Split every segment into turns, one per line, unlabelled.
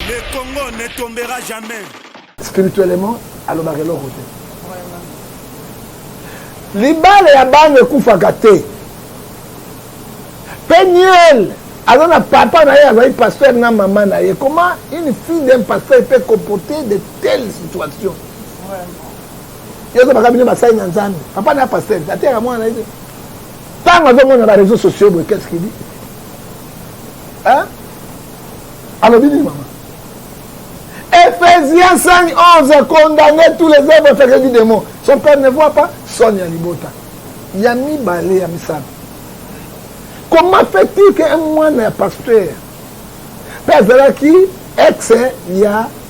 Le Congo ne tombera jamais. Spirituellement,
alobaka eloko te. Libala ya bana ekufaka te. Peniel aza na papa na ye azali pasteur na mama na ye comment une fille d'un pasteur peut comporter de telles situations yo ozobaka bino basali na nzambe papa na pasteur ateyaka mwana na ye te ntango azomona ba réseaux sociaux boye qu'est ce qu'il dit hein? alobi nini mama Ephésiens 5, 11 a condamné tous les œuvres sacrées du démon. Son père ne voit pas son Yalibota. Yami Balé, Yami Sam. Comment fait-il qu'un moine est pasteur Père Zalaki, ex, ya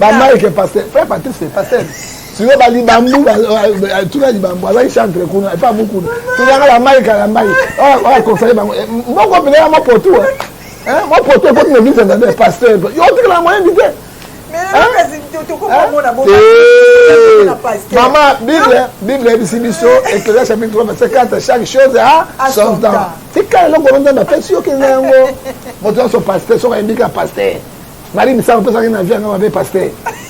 Ba Mike pasteur, frère Patrice pasteur. Siko ba libambu ba tuna libambu azali chantre kuna epa mukuna. Tuna la Mike la Mike. Ah ah conseiller bango. Moko pele ya mapotu. Hein? Mapotu ko tuna visa na pasteur. Yo tikala moyen bite. mama bible bible eyebisi biso eklezia chapitre 3 verset 4 chaque chose a son temps tikala eloko wana nzambe apesi yo kenda yango moto nyonso paster soki ayembika paster Marie Misamu pesa ki na vie nga mabe pasteur.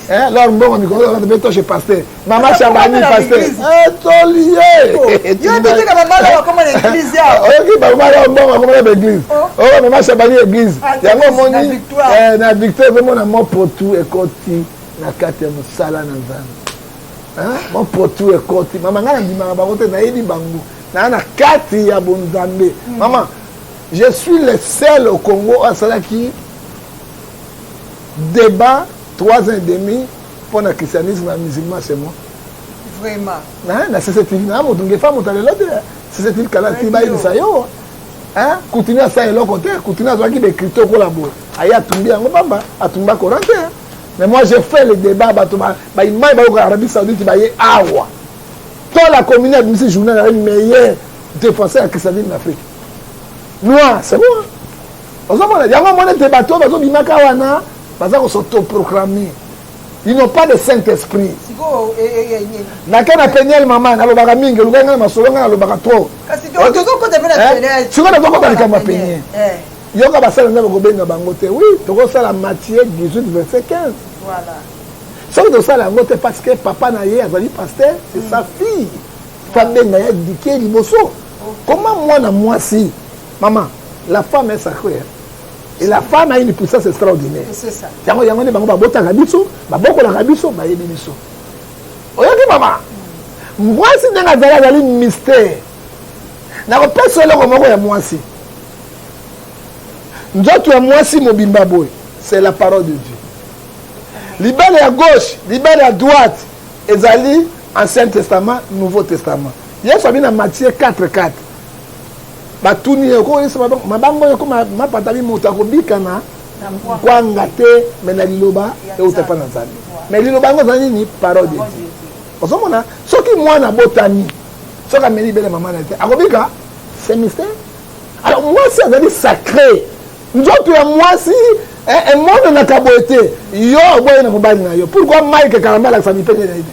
Eh lor mbongo mikolo lor be toshe pasteur. Mama Shabani pasteur. Eh toliye. Oh, yo te tika mama la koma na église ya. Oyo ki ba mama la mbongo koma na église. Oh, oh mama Shabani église. Ah, Yango moni eh na victoire vraiment na mo potu ekoti na kati ya mosala na Nzambe. Ah, mo potu ekoti mama nga na ndimaka bango te nayebi bango. Na na kati ya bonzambe. Hmm. Mama je suis le seul au Congo asalaki debat trois ans et demi mpo na christianisme ya musulman c'est moi vraiment
hein, na sesetili
na moto ngefa moto ya lelo te sesetili kala ti bayebisa yo hein, kutini asala eloko te kutini azwaki bekrito okola boye aye atumbi yango pamba atumba koran te mais moi j'ai fait le débat bato baimai bayoka arabie saoudite baye awa to la commune abimisi journal aye meilleur défenseur ya christianisme na afrique noir c'est bon ozomona yango omona ete bato oyo bazobimaka wana baza kosotoproclame ils n'ont pas de saint esprit nake na peniel mama nalobaka mingi olukaki ngai na masolo ngai nalobaka trop
sikoyo nazokota likambo ya
peniel yoka basala nzambe kobenga bango te wi tokosala matie 18 verset 15
soki
tosala yango te parce que papa na ye azali paster c'est sa fille fabenga ya dike liboso koma mwana mwasi Maman, la femme est sacrée. Hein? Et la femme a une puissance extraordinaire. C'est ça. Yango yango ne bango ba bota kabiso, ba boko la kabiso, ba yebi biso. Oyoki maman. Mwasi ndenge azali azali mystère. Na ko pesa eloko moko ya mwasi. Nzoto ya mwasi mobimba boye, c'est la parole de Dieu. Libala ya gauche, libala ya droite ezali Ancien Testament, Nouveau Testament. Yesu abi na Matthieu 4 4. Batuni ye okoyesa mabanga oyo ekoma mapata bi moto akobika na kwanga te me na liloba euta epai na nzambe me liloba yango eza nini parole de dieu ozomona soki mwana abotami soki ameli bele mama na ye te akobika c'est mystère alors mwasi azali sacré nzoto ya mwasi eh, emonanaka boye te yo oboye na mobali na yo pourkui mike kalamba alakisa mipende na ye te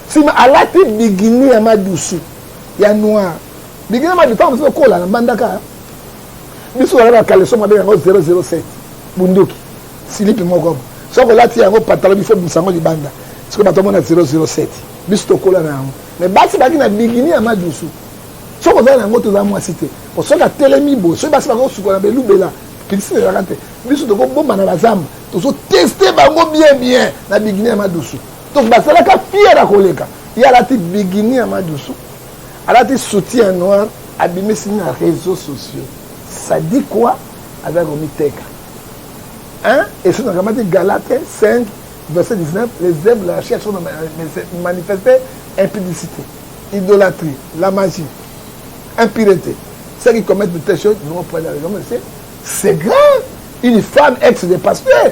Sima alati bigini ya madusu ya noir bigini ya madusu ntango mosusu okola na mbandaka biso tozalaka kaleso mabe yango 007 bunduki silipi moko soki olati yango patalo bifo bimisa yango libanda soki bato omona 007 biso tokola na yango me basi baki na bigini ya madusu soki ozali na yango toza mwasi te po soki atelemi boye soki basi bakosukola belubela pilisi ezalaka te biso tokobomba na bazamba tozoteste bango bien bien na bigini ya madusu donc bazalaka fier ya koleka ye alati bigini ya madusu alati soutien ya noir abimisi na réseau sociaux sadi quoi azali komiteka hein? esi nakamati galate 5 verset 19 les œuvres de la chair sont manifestées impudicité idolâtrie la magie impureté ceux qui commettent de telles choses n'ont pas la raison mais c'est grave une femme ex de pasteur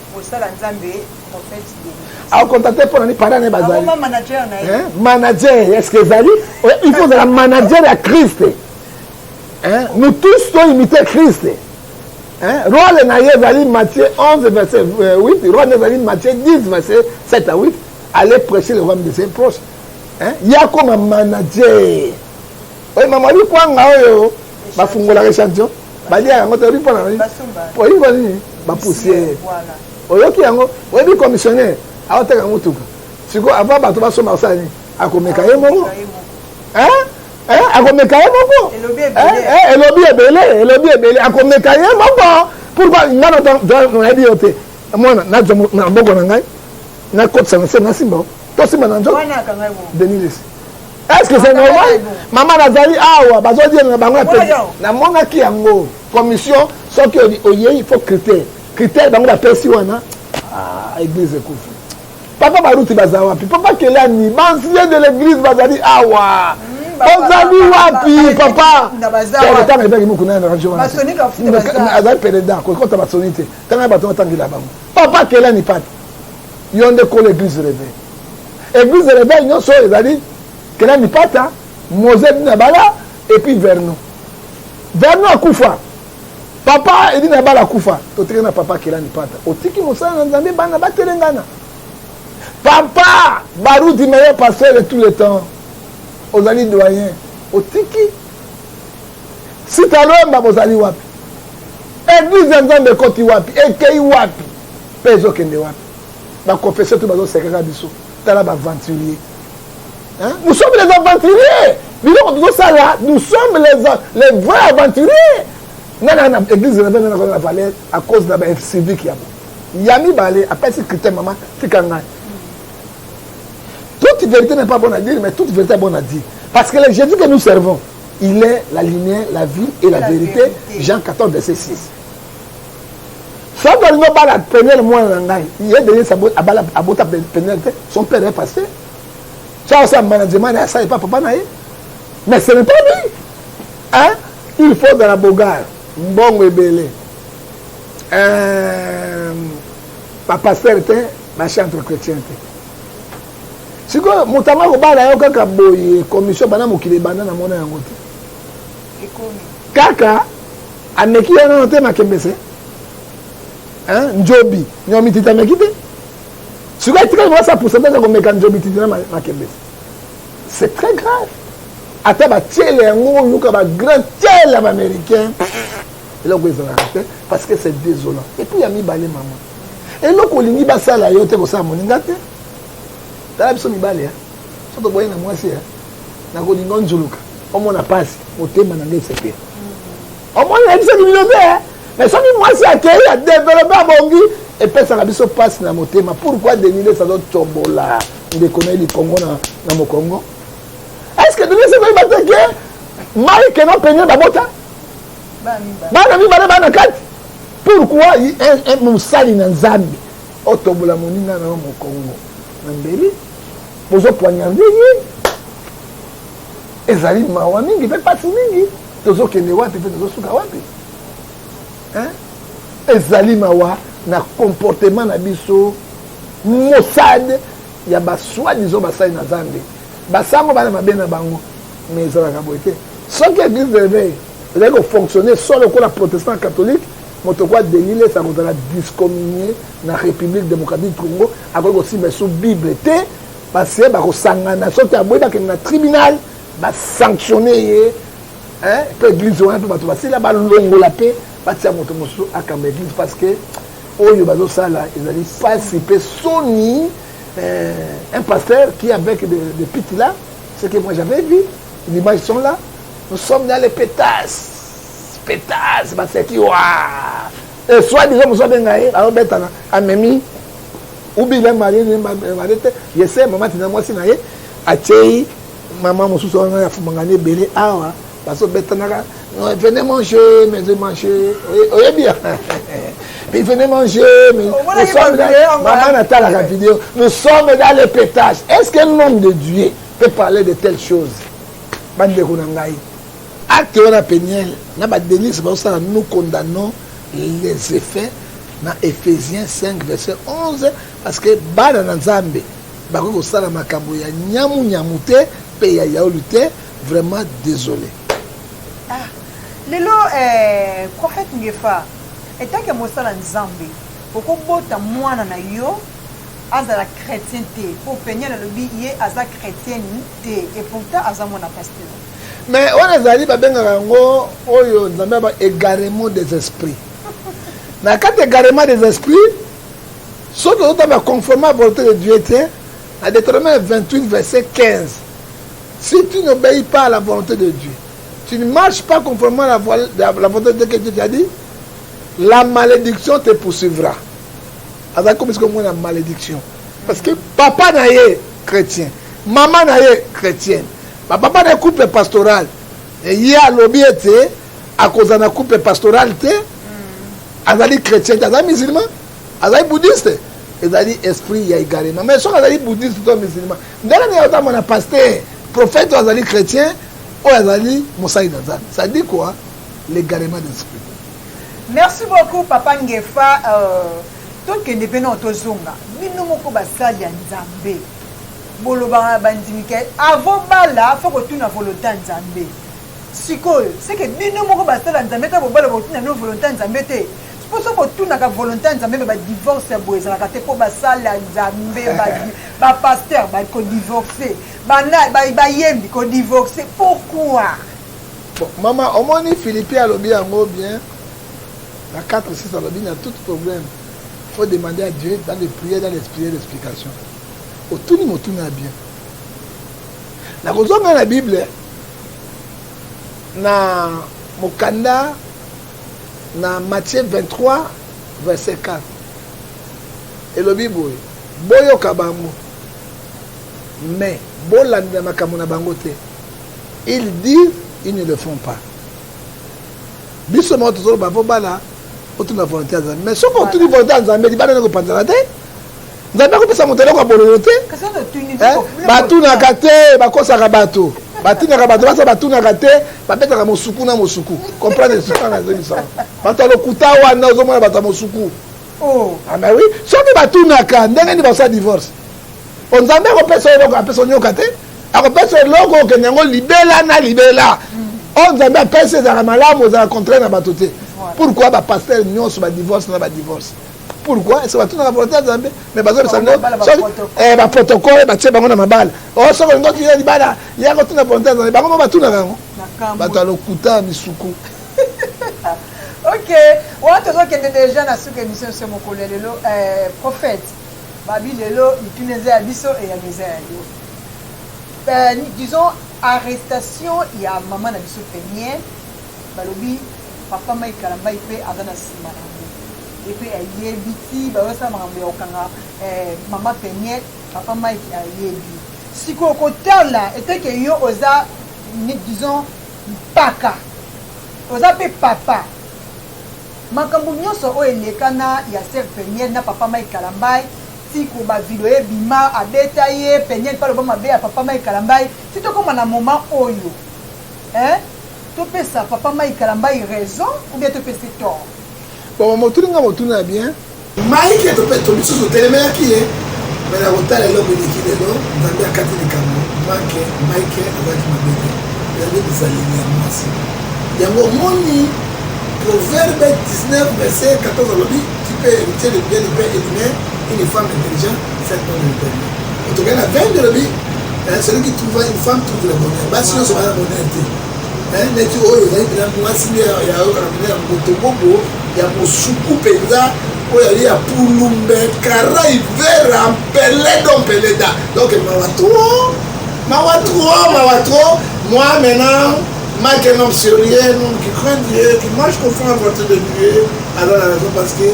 Bosala Nzambe prophète Denis. Au contacter
pour ni parents ba zali. Awa manager na ye. Hein?
Manager, est-ce que
zali? Il faut la manager à Christ. Hein? Nous tous doit imiter Christ. Hein? Rôle na ye zali Matthieu 11 verset 8, euh, rôle na zali Matthieu 10 verset 7 à 8. Allez prêcher le royaume de ses proches. Hein? Yakoma manager. Oye mama bi kwanga oyo ba fungola echantion ba lia yango te bi pona nini po yi boni ba poussière oyoki yango oye bi commissionnaire awa teka mutuka siko avant bato ba soma sa ni akomeka ye moko hein hein akomeka ye moko elobi ebele elobi ebele akomeka ye moko pourquoi nga na dans la bio te mwana na jomo na boko na ngai na kotisa na se na simba to simba na njo denis lesi est ce que c'est normal mama nazali awa bazodiela na bango namonaki yango commission soki oyei il faut critère critère bango bapesi wana ah, église ekufi papa baruti baza wapi papa kelani bancien de l'église bazali awa ozali wapi papa tanga etaki mokuna na radio wana
azali pele da kokota
basoni te tanga bato batangela bango papa kelani pati Yo nde kolo eglise reve. Eglise reve nyonso ezali kena mipata, Mose dina bala et puis Vernon. Vernon akufa. Papa edina bala akufa. Totiki na papa kela mipata. Otiki mosala na Nzambe bana batelengana. Papa Baruti meilleur pasteur de tous les temps. Ozali doyen. Otiki sita lomba bozali wapi? Eglise ya Nzambe ekoti wapi? Ekei wapi? Paix ezo kende wapi? Ba confesseurs tout bazo seka kaka biso. Tala ba aventuriers. Hein? Nous sommes les aventuriers. Biloko tozo sala, nous sommes les les vrais aventuriers. Nana na église na bana na valeur à cause na ba civique ya bo. Ya mibale apesi critère mama tika ngai. Toute vérité n'est pas bonne à dire, mais toute vérité est bonne à dire. Parce que le Jésus que nous servons, il est la lumière, la vie et la, la vérité, vérité. Jean 14, verset 6. soki olingi obala peniel mwana na ngai ye denise abala abota peniel te son père est passé soki asala management na ye asala epa papa na ye mais ce n'est pas lui hein? il faut dans la bogare mbongo ebele euh, bapastere te bachantre chrétien te sikoyo moto yango akobala yo kaka boye commission bana mokili ebanda na mona yango te kaka Ameki ya nano te makembese. Hein? Njobi. Nyo mititi ameki te. Sikoyo etikali mwasi ya pourcentage ya komeka njobi titi na makembese. C'est très grave. Ata ba tiele yango oyoka ba grand tiele américain. Eloko ezalaka te parce que c'est désolant. Et puis ya mibale maman. eloko olingi basala yo te kosala moninga te tala biso mibale soki oboyi na mwasi ya nakolinga onzuluka omona mpasi motema na ngai esepela mm. omoni nayebisaki bino te eh? mais soki mwasi akei adevelope abongi epesaka biso mpasi na motema pourkui deniles azotombola ndeko na ye likongo na mokongo est ce que deniles ekoyeba te ke mai keno penie babota bana mibale bana kati pourkui mosali na nzambe otombola moninga na yo mokongo na mbeli bozo poignarde ye ezali mawa mingi mpe mpasi mingi tozokende wapi mpe tozosuka wapi ezali mawa na comportement na biso mosade ya baswadison basali na zambe basango bana mabe na bango mais ezalaka boye te soki église de réveil ezali kofonctionne so lokola protestant catholique moto kwa delile esa kozala discommunie na Republique Democratique du Congo akoki kosimba sous Bible te parce que bakosangana soki aboyi bakende na tribunal basanctionne ye mpe église wana mpe bato basila balongola mpe batia moto mosusu akamba église parce que oyo bazosala ezali mpasi mpe soni euh, un pasteur qui avec de, de pite là ce que moi j'avais vu l'image sont là nous sommes dans les pétasses pétasses baseki waa Et soit disant mosusu abenga ye azobetana amemi ubi il est marié marié te ye se mama tina mwasi na ye atyei mama mosusu wana ya fumangani ebele awa bazobetanaka venez manger mais manger oyebi ya puis venez manger mais nous sommes mama natalaka video nous sommes dans le pétage est ce que l'homme de dieu peut parler de telle chose bandeko na ngai Acte wana penielle na ba Denise bazo sala nous condamnons les effets na Ephesiens 5 verset 11 parce que bana na Nzambe bakoki kosala makambo ya nyamu nyamu te pe ya yauli te vraiment désolé. Ah,
lelo eh, prophète Ngefa etake mosala Nzambe okobota mwana na yo azala chrétien te po penielle alobi ye aza chrétienne te et pourtant aza mwana pasteur mais wana
ezali babengaka yango oyo nzambe aba égarement des esprits na kati égarement des esprits soki ozotamba conforme à volonté de dieu te na deutéronome 28 verset 15 si tu n'obéis pas à la volonté de dieu tu ne marches pas conformément à la, voile, la, la volonté de dieu que dieu t'a dit la malédiction te poursuivra azali komisi komona malédiction parce que papa na ye chrétien Mama na ye chretienne, ba papa na ye couple pastoral, ye alobi ete akozala na couple pastoral te, azali chretien te, azali musulman, azali bouddhiste, ezali esprit ya egarement. Mais soki azali bouddhiste to musulman, ndenge nini ozama na pasteur, prophète oyo azali chretien, oyo azali mosali na Nzambe? Ça dit quoi? L'égarement d'esprit. Merci
beaucoup papa Ngefa euh, tokende mpe nao tozonga bino moko basali ya Nzambe. Bolobaka na bandimi ke avant bala faut kotuna volonte ya Nzambe. Sikoyo seke bino moko basala Nzambe ta bobala botuna no volonte ya Nzambe te. Mpo soki botunaka volonte ya Nzambe me ba divorce ya boye ezalaka te mpo basala Nzambe ba pasteur ba ko divorce bana bayembi ko divorce pourquoi? Bon,
mama omoni Philippe alobi yango bien na 4 6 alobi na tout problème faut demander à Dieu dans les prières, dans l'esprit et l'explication. Otuni motuni ya bien. Na kozonga na Bible na mokanda na Matthieu 23 verset 4 elobi boye boyoka bango mais bolandela makambo na bango te ils disent ils ne le font pas biso moko tozoloba po bana otuna volonté ya nzambe mais soki otuni volonté ya nzambe libanda nde kopanzana te nzambe akopesa moto eloko ya bololo te eh, batunaka te bakosaka bato batunaka bato basa batunaka te babetaka mosuku na mosuku comprendre soka nazongisaka bato ya lokuta wana ozomona bato ya mosuku oh. ama ah, wi soki batunaka ndenge nini basala divorce onzambe akopesa eloko apesa onyoka te akopesa eloko okende yango libela na libela oyo nzambe apesi ezalaka malamu ozala contraire na bato te pourquoi bapastere nyonso badivorce na badivorce pourquoi ese batunaka volonté ya nzambe mais bazobisa nde baprotokole batie bango na mabala o oh, soki olingi otuya libala yaka otuna volonté ya nzambe bango mo batunaka yango bato ya lokuta ya misuku
ok wana tozokende deja na suka émission se mokolo ya lelo eh, prophète Babi lelo mituna eza ya biso eyano eza ya yo euh, disons arrestation ya mama na biso peniel balobi papa mai kalambai mpe aza na nsima na yango epe ayebi ti bayosala makambo ya kokanga eh, mama peniel papa mike ayebi sikoyo kotala eteke yo oza disons mpaka oza mpe papa Makambo nioso oyo eleka na ya sœur penielle na papa Mike kalambay ti ko ba video ebima abeta ye penielle pe aloba mabe ya papa Mike kalambay ti tokoma na moment oyo hein topesa papa Mike kalambay raison ou bien topesi tort? Bon maman otuni
nga motuna ya bien. Mike to mpe to misusu otelemelaki ye me na kotala eloko eleki lelo nzambe akati likambo make mike azalaki mabe te ezali bizaleli ya mwasi yango omoni proverbe 19 verset 14 alobi tu peux hériter le bien du père et du mère une femme intelligente cette bonne éternelle otokei na 20 olobi celui qui trouva une femme trouve le bonheur basi nyonso baza bonheur te ezali ndeti oyo ezali mpenza mwasi nde yayokana mpenza ya motobobo ya mosuku mpenza oyo ali ya pulumbe karai vera mpeledo mpeleda donc mawa tro mawa tro mawa tro moi maintenant Mike est un homme sérieux, un homme qui craint Dieu, qui mange conforme à la volonté de Dieu, alors la raison parce que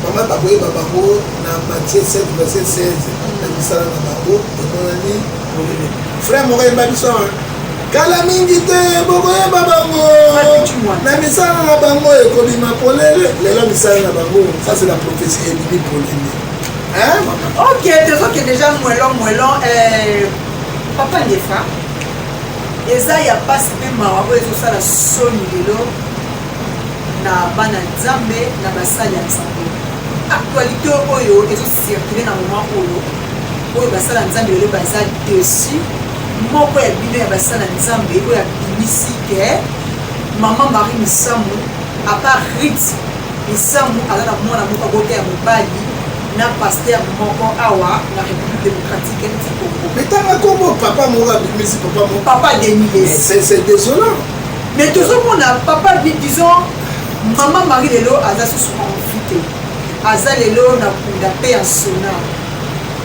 maman bakoyeba bango na matie 7 verset 16 na misala na bango emonani molili frère moko ayemba biso Kala mingi te bokoyeba bango na misala na bango ekobima polele lelo misala na bango ça c'est la prophétie ebimi polele ok tozoke déjà
mwelo mwelo eh, papa ndefa eza ya mpasi mpe mawa oyo ezosala soni lelo na bana nzambe na basali ya nzambe actualité oyo ezocirkule na moment oyo oyo basala nzambe lelo baza dessus Moko ya bino ya basali ya Nzambe oyo abimisi ke mama Marie Misamu apart Ruth Misamu aza na mwana moko abota ya mobali na pasteur moko awa na république démocratique ya ti congo metanga kombo
papa moko abimisi papa moko papa deniles
c'est désolant
mais tozomona
papa disons mama marie lelo aza susu envie te aza lelo na kunda mpe ya sona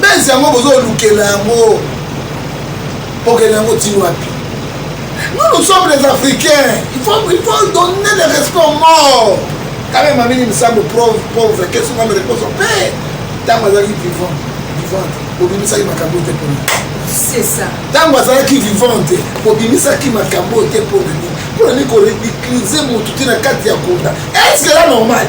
base yango bozolukela yango bokende yango ti wapi nous nous sommes les africains il faut, il faut donner le respect aux morts quand même amini misambo pauvre qu'est-ce qu'on me repose en paix ntango azalaki vivant vivante bobimisaki makambo te mpona
ntango azalaki
vivante bobimisaki makambo te mpona nini mpona nini korecluse motu te na kati ya kunda est ce que la normale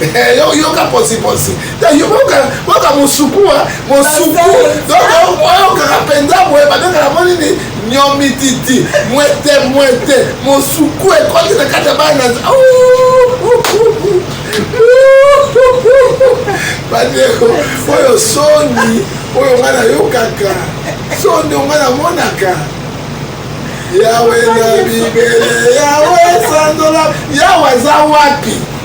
Eh, yo yoka posi posi yoka mosukua mosuku oyokaka mpenza boye babengaka mo nini nyomititi mwete mwete mosuku ekoti na kati ya bana bandeko oyo soni oyo ngai nayokaka soni oyo ngai namonaka yawe na bibele yawe sandola yawe aza wapi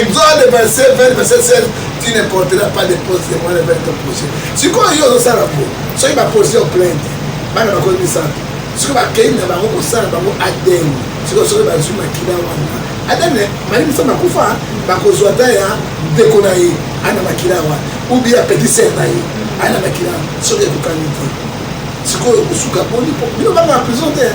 Exode 27, 20, verset 16, tu ne porteras pas de pose de moi avec ton projet. sikoyo yo ozosala po soki baposi yo plainte bana bakomi misato soki bakei na bango kosala bango adn sikoyo soki bazwi makila wana adn mali misato bakufa bakozwa ata ya ndeko na ye ana makila wana ubi ya petit ser na ye ana makila soki ekokani te sikoyo kosuka boni po bino banga prison te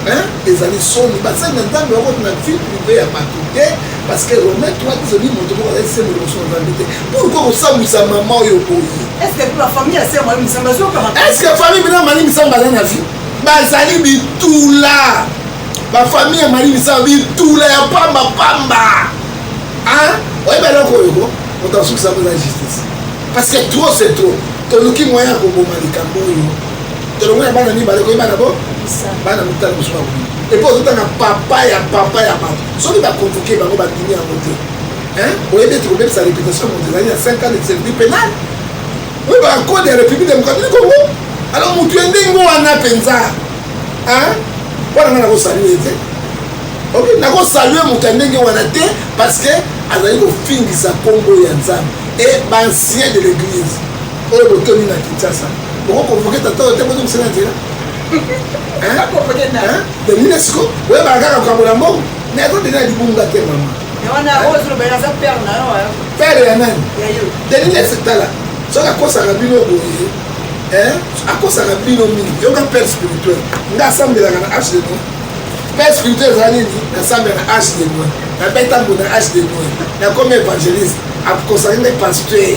Hein? Ezali soni basali na nzambe bakoti na vie prive ya bato te parce que romain toi tizoni moto moko azali sembo liboso na nzambe te pourkoi kosambwisa mama oyo boye estce famille ya sema
misamba estce famille bina
mali misamba aza na vie bazali bitula bafamille ya mali misamba bitula ya pamba pamba oyebi eloko oyo ko moto asukisa mpo eza justice parce que trop c'est trop toluki moyen ya koboma likambo oyo tolongo ya bana mibale koyeba na bo bana motala mosusu bango epo ozotanga papa ya papa ya bato soki bakonvoke bango bandimi yango te oyebi ete kobebisa reputation moto ezali ya 5 ans de service pénal oyo bakode ya république démocratique congo alors motu ya ndenge wana mpenza wana nga nakosalue ye te ok nakosalue moto ya ndenge wana te parce que azali kofingisa nkombo ya nzambe et bancien de l'église Oyo botomi na Kinshasa. Boko convoquer tata oyo te bozo musala na nzela. Hein? Convoquer na. Hein? De l'UNESCO. Oyo ba kaka ko abola mbongo. Mais azo dena libunga te maman. Mais wana oyo zolo ba za père na yo. Père ya nani? Ya yo. De l'UNESCO tala. Soka kosaka bino boye. Hein? Akosaka bino mingi. Yo ka père spirituel. Nga asambelaka na H de Noël. Père spirituel ezali nini? Nasambela na H de Noël. Na beta mbona H de Noël. Na komi evangeliste. Akosaka nde pasteur.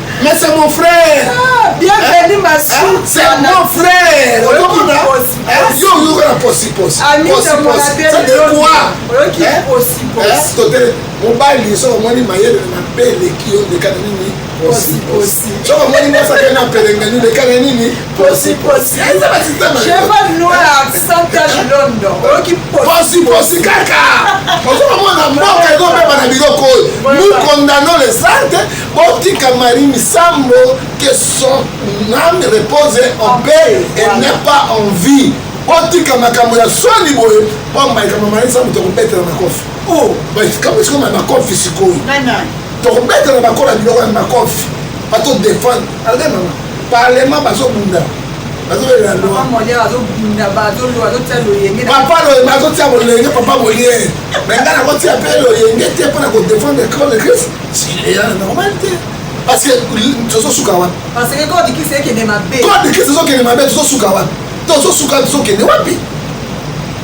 Mais c'est mon frère. Ah, bienvenue hein? ma
soeur. Hein? C'est mon
frère. Yo yo la posi posi. Ami de mon appel. Ça veut quoi Yo qui hein? posi posi. Tote mobali so omoni mayele na bele ki yo ndeka nini posi posi. So omoni mosa ke na pelenge ni ndeka nini posi posi. Eza ba système.
Cheval noir sans tache London. Yo qui posi posi
kaka. Ozo mona mboka ezo beba na biloko oyo. Nous condamnons les actes Botika Marie Misambo que son âme repose en paix et n'est pas en vie. Botika makambo ya swani boye mpo makambo Marie Misambo tokobetela makofi. Oh, makambo sikoyo na makofi sikoyo. Tokobetela makofi na biloko ya makofi. Bato defendre. Alga mama, parlement bazobunda.
papa loyenge azotia
bolenge papa bolie me ngai nakotia mpe loyenge te mpo na kodefendre code christ parce que tozosuka wapi parce que kode kisi
ekende mabe kode kisi ezokende mabe
tozosuka wapi tozosuka tozokende wapi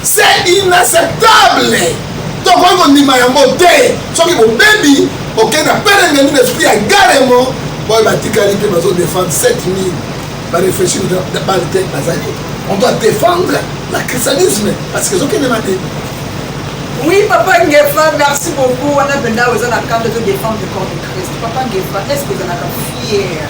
c'est inacceptable tokoki kondima yango te soki bobebi okei na perengeni na esprit ya garemo oyo batikali mpe bazodefendre 7000 bareflechir bale te bazali on doit défendre la christianisme parce que ezokende mabe Oui,
papa Ngefa, merci beaucoup. On a besoin aux la carte de défendre le corps de Christ. Papa Ngefa, est-ce que vous en avez fier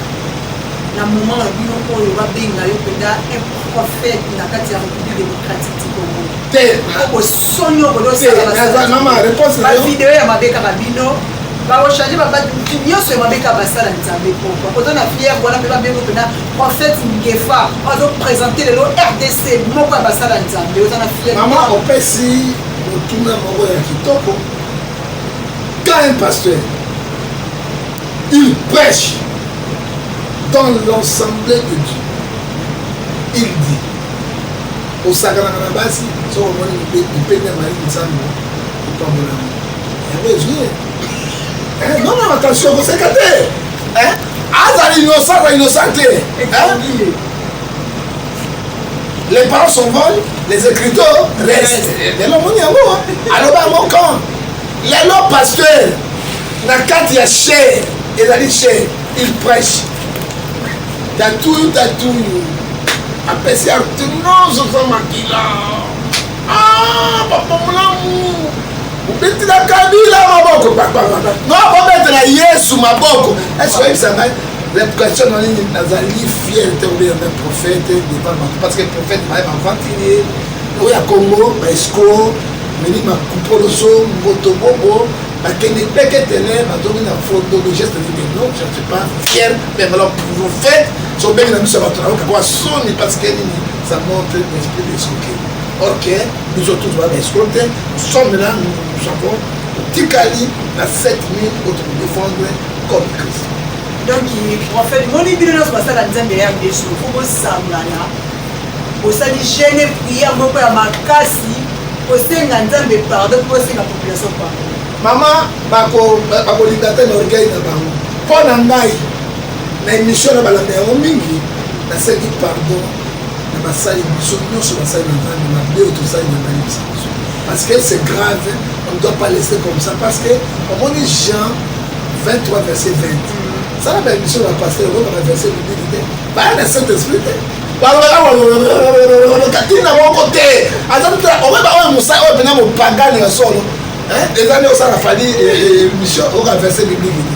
na moment na bino oyo babenga yo mpenza un prophète na kati ya république démocratique du congo te okosoni okodosabavideo ya mabe kaka bino bakochange nyonso ya mabe kaka basala nzambe mpo bakoza na fiere wana mpe babengo mpenza Prophète Ngefa azo présenter lelo RDC moko ya basala nzambe oza na fier. Maman opesi
motuna moko ya kitoko. Quand un pasteur il prêche dans l'ensemble de Dieu il dit osakanaka na basi soki omoni mipende mali nzambe opambolama yango ezwi non non attention koseka te azala innocent ba innocent te les parents s'envolent les écriteurs restent lelo omoni yango aloba yango quand lelo pasteur na kati ya chair ezali chair il prêche tatuyu tatuyu apesi arte nyonso za makila Ah, papa molamu obetela kabila maboko no bobetela yesu maboko ese oyebisa ngai reputation na nini nazali fier te obeya ngai prophète devant bato parce que prophète baye bavantilier oyo ya congo baescro meli makupoloso mboto bobo bakende peketele bazongi na foto de geste de non je ne suis pas fier mais alors prophète sobengi na biso ya bato nayoka kwa soni parce que nini Ça montre l'esprit des escroquer. Or que nous autres, nous avons escroqué, nous sommes là, nous, nous avons tikali na 7000 autres nous défendre comme Christ. Donc,
en fait, mon ibino na soba sala nzambe ya biso, faut bosangana. Bosali jeune prière moko ya makasi, kosenga nzambe pardon, kosenga population pardon. Mama
bakolinga te na orgueil na bango. Mpo na ngai na emission na balanda yango mingi nasengi pardon na basali biso nyonso basali na nzambe mabe oyo tosali na ngai bisa biso parce que c'est grave on ne doit pas laisser comme ça parce que omoni jean 23 verset 20 sala ba émission na pasteur oyo bana verset bibili te baya na saint esprit te katina moko te aza totala okoyeba oyo mosai oyo mpenza mopagane ya solo ezali osala fali émission oyoka verset biblike te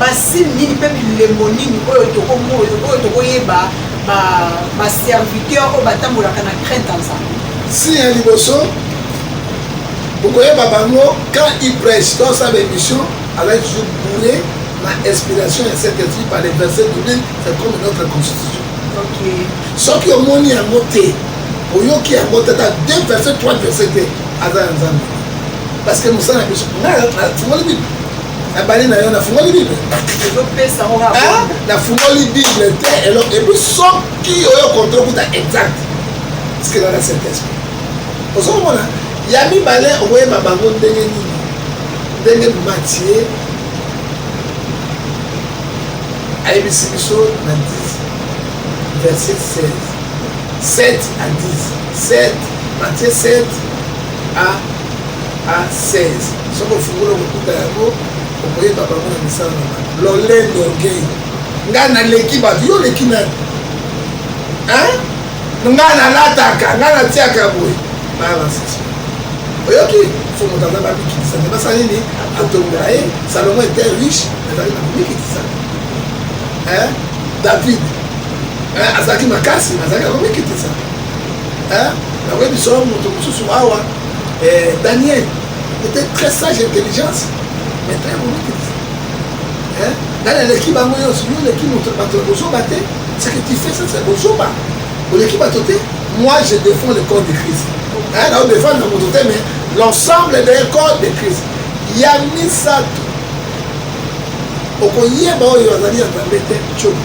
Basigne nini mpe bilembo nini oyo tokoyeba baserviteur oyo batambolaka na crainte ya nzambe signe ya liboso
okoyeba bango quand il prêche to asala émission alaki toujours bourre na inspiration ya saint esprit par les versets biblique c'est comme notre constitution soki omoni yango te oyoki yango te ata deux verset trois verset te aza ya nzambe parce que mosala na biso ngai afungoli bible nabali na yo nafungoli bible ah, nafungoli bible te eloko epuis soki oyo kontro kuta exact tikelaka saint esprit ozo komona ya mibale okoyeba bango ndenge nini ndenge matie ayebisi biso na 10 verset 16 7 à 10 7 matie 7 à a 16 soki ofungoli okokuta yango okoyeba bango na misala na bango lolen dorgei ngai naleki bato yo oleki nani ngai nalataka ngai natiaka boye balances oyoki fo moto aza bamikitisa me basala nini atongola ye salomo etait riche azali na komikitisa david azalaki makasi azalaki na komikitisa Hein? Nakoyebi solo moto mosusu awa eh, Daniel était très sage intelligence mais très volontaire. Hein? Nani aleki bango nyonso yo oleki moto bato ya bozoba te ce que tu fais ça c'est bozoba oleki bato te moi je défends le corps de Christ hein? nao défendre na moto te mais l'ensemble de corps de Christ ya misato okoyeba oyo azali ya nzambe te cobi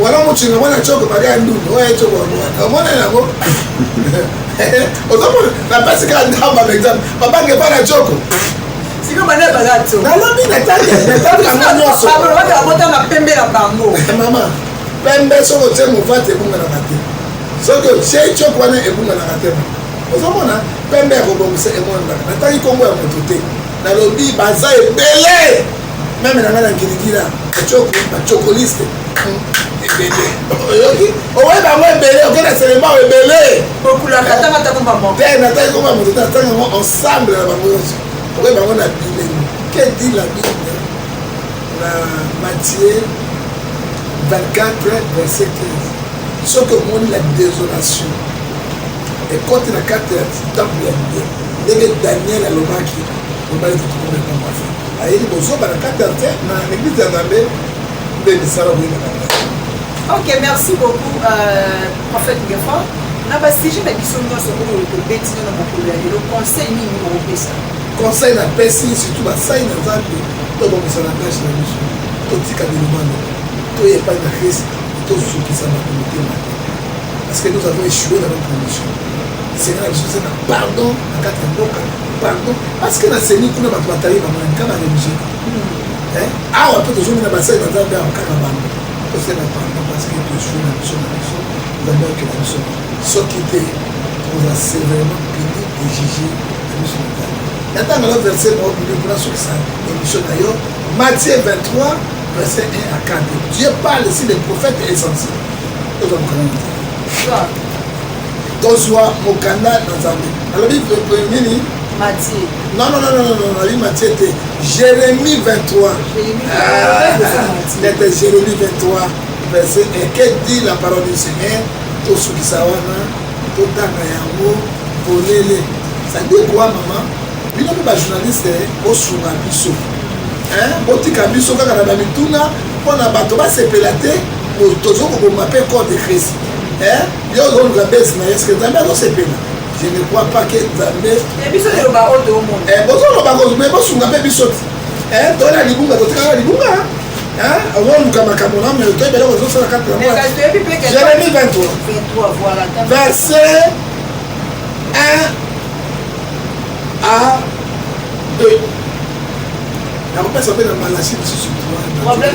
wana mocinga mwana coko bali ya ndundu oyo ecoko yango omona yango ozomona napesi kaka ndamba par exemple babange epa na coko nalobi natalanga
nyonso mama
pembe soki otie movate ebunganaka te soki otie coko wana ebunganaka te ozomona pembe ya kobongisa emonanaka nataki nkombo ya moto te nalobi baza ebele meme na ngai na ngiligila bacokoliste ebele oyoki owebi yango ebele oke na selembao ebele te nataki koma moto te natanga yango ensemble na bango nyonso okoyebi yango na bilemo ke di la bible na matie 24 verset 15 soki omoni la désolation ekoti na kati ya temple ya ndenge daniel alobaki Mobali kitoko mais pas mwasi. Ayeli bozoba na kati ya te na eglise ya Nzambe nde misala boyeba na ngai. Ok,
merci beaucoup euh, prophète Gefa. Na ba sujet na biso nyonso oyo tobeti na mokolo ya lelo conseil nini okopesa? Conseil na
pesi surtout basali na Nzambe to bongisa na tâche na biso. Totika bilumano. Toye epai na Christ tozokisa bato motema te. Parce que nous avons échoué dans notre condition. Seigneur, je vous pardon, en cas de pardon parce que na seni kuna bato batali bango na mikama religieux awa mpe tozongi na basali na nzambe awa kaka bango tosala pardon parce que tozwi na biso na biso nzambe akela biso soki te toza sévèrement puni et juge na biso na nzambe natangala verset moko bibi mpona sokisa émission na yo matthieu 23 verset 1 à 4 dieu parle si les prophètes est censé tozwa mokana na nzambe tozwa mokanda na nzambe nalobi nini matie
non non non non
non nalobi matie te jérémie 23 nete jérémie 23 verset eke dit la parole du seigneur tosukisa wana totanga yango polele sadie kwa mama bino mpe bajournaliste bosunga biso botika biso kaka na bamituna mpo na bato basepela te tozo kobomba mpe code de christ Yo ozoluka base na eske Nzambe azosepela? Je ne crois pas que Nzambe. Et biso eloba oyo toomona. Eh bozoloba ko mais bosunga mpe biso ti. Eh tola libunga totikaka libunga. Hein? Ozoluka makambo na mais otoyebi eloko ezosala kati na moi. Jérémie 23. 23 voilà. Verset 1 à 2. nakopesa mpe na malasi lisusu problème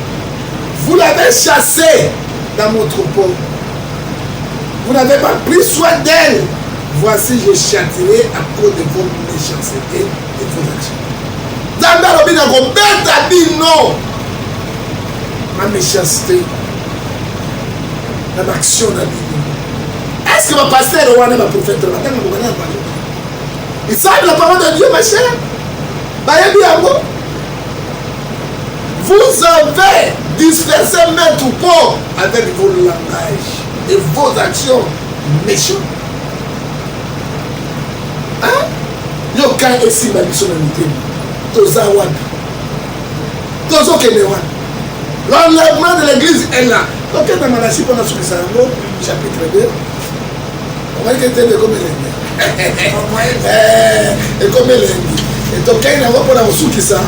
Vous l'avez chassée dans mon troupeau. Vous n'avez pas pris soin d'elle. Voici, je châtirai à cause de vos méchancetés et vos actions. Nzambe alobi na kobeta bino ma méchanceté na baaction na bino est ce que bapastere wana baprofete na batanga bokana ya bango isabi la parole de dieu ma chère bayebi yango Vous avez dispersé maître Paul avec vos langages et vos actions méchantes. Hein? yoka esimba biso na mitema toza wapi tozokende wapi l'enlèvement de l'église est là tokendanga na si mpona sukisa yango chapitre 2 omaki etembe ekomi elengi eh, ekomi elengi etokei nango mpona kosukisa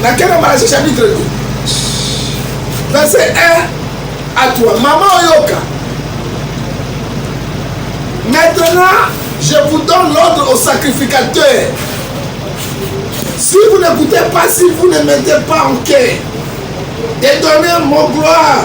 nakenda malasie chapitre te verse 1 à toi mama oyoka maintenant je vous donne l'ordre au sacrificateur si vous n'écoutez pas si vous ne mettez pas en quai et donnez mon gloire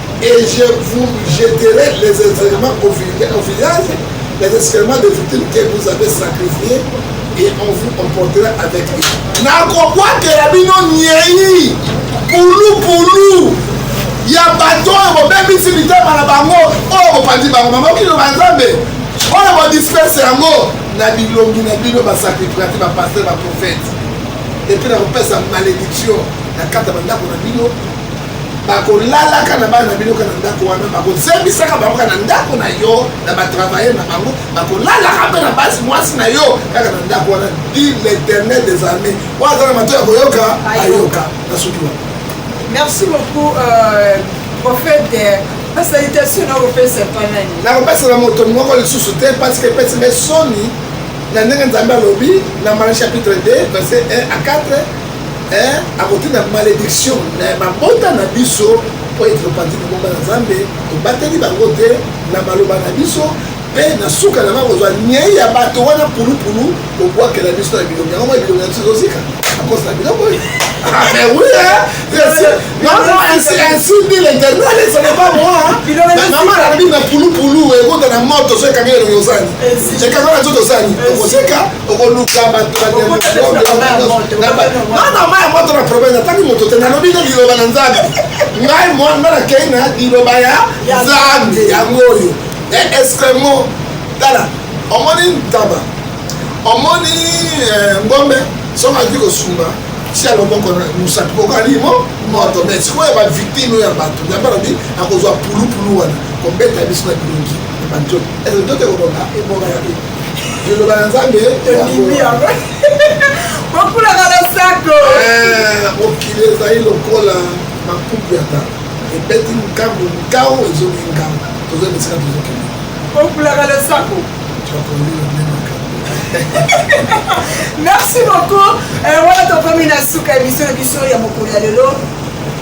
et je vous jeterai les excréments au village, les excréments des victimes que vous avez sacrifiés et on vous comportera avec lui. nakobwakela bino nyei pulupulu ya bato oyo bobebisi mitema na bango oyo bopanzi bango mamokino ba nzambe oyo bodisperse yango na bilongi na bino basakrifati bapaster baprofete epuis nakopesa malédiction na kati ya bandako na bino bakolalaka na bana na bino kaka na ndako wana bakozembisaka bango kaka na ndako na yo na batravailler na bango bakolalaka mpe na basi mwasi na yo kaka na ndako wana dit l'éternel des armées oyo aza na mato ya koyoka ayoka na soki wana merci beaucoup euh, prophète
euh, basalitation nakopesa epa nani nakopesa na moto
moko lisusu te parce que epesi ngai soni na ndenge nzambe alobi na mala chapitre 2 verset 1 à 4 eh, akotinda malediction na eh, mabota na biso mpo ete topanzi libomba na nzambe tobateli bango te na maloba na biso mpe na suka na bango kozwa nyei ya bato wana pulupulu kobwakela biso na bilongi yango moi bilongi na biso ezozika akosa na biloko ah, mais oui, hein? Ainsi, ainsi dit l'éternel, ce n'est pas moi. Maman a dit na pulu pulu, et vous dans la mort, tu sais, quand il y a le yosani. Et quand on a tout yosani, tu sais, okoluka bato na mai ya moto na problème natangi moto te nalobi na liloba na nzambe ngai mwana nga nakei na liloba ya nzambe yango oyo e escremo tala omoni ntaba omoni eh, ngombe soki azwi kosumba si ya loboko na mosapi kokani mo moto me sikoyo ba victime oyo ya bato nzambe alobi akozwa pulupulu wana kobeta biso na bilongi na banzoto ezo nzoto ekobonga ebonga ya liloba ya nzambe tondimi yango
bokulaka na sako eh, mokili
ezali lokola makuku ya tata ebeti nkambo nkao ezongi nkambo toza bisika tozokende bokulaka na
sako merci beaucoup eh, wana tokomi na suka emission na biso ya mokolo ya lelo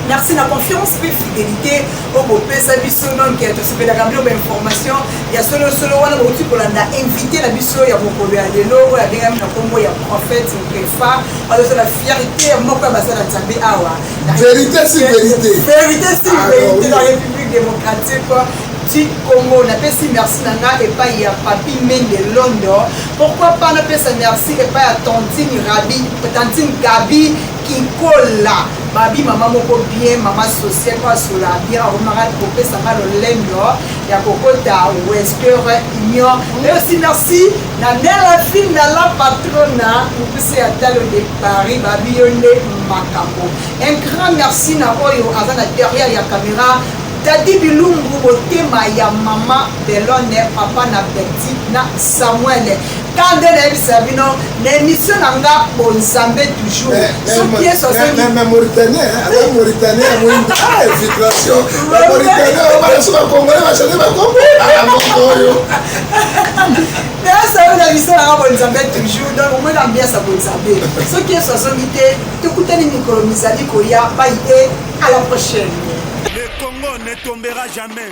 merci na confiance mpe fidelité oyo bopesa biso donc tosepelaka bino bainformation ya solo solo wana bauti kolanda invité na biso ya mokolo ya lelo oyo abengami na nkombo ya prophète kefa azozala fierté ya moko ya baza na nzambe awa verité si
verité verité si ah,
verité na république démocratique du Congo. Napesi merci na nga epai ya Papi Mende London. Pourquoi pas napesa merci epai ya Tantine Rabi, Tantine Gabi Kikola. Babi mama moko bien, mama sociale kwa sola bien, akomaka kopesa nga lolendo. ya kokota western union mais aussi merci na nela film na la patrona mokuse ya talo de paris babi yo nde makambo un grand merci na oyo aza na derrière ya caméra dadi bilumbu motema ya mama belone papa na petit na samuel Ka nde nayebisa bino na emission na nga bonzambe toujours eh, eh, soki yesu azongimauritanie
aza mauritanien ya moyimbi ah, infiltration bamauritanie balasu bakongole bachange bakongo alamoko ah, oyo nayasayo na misala nga bonzambe toujours donc omoi na mbiasa bonzambe soki yesu azongi te tokutani mikolo mizali koya
bayi te à la
prochaine le congo
ne
tombera
jamais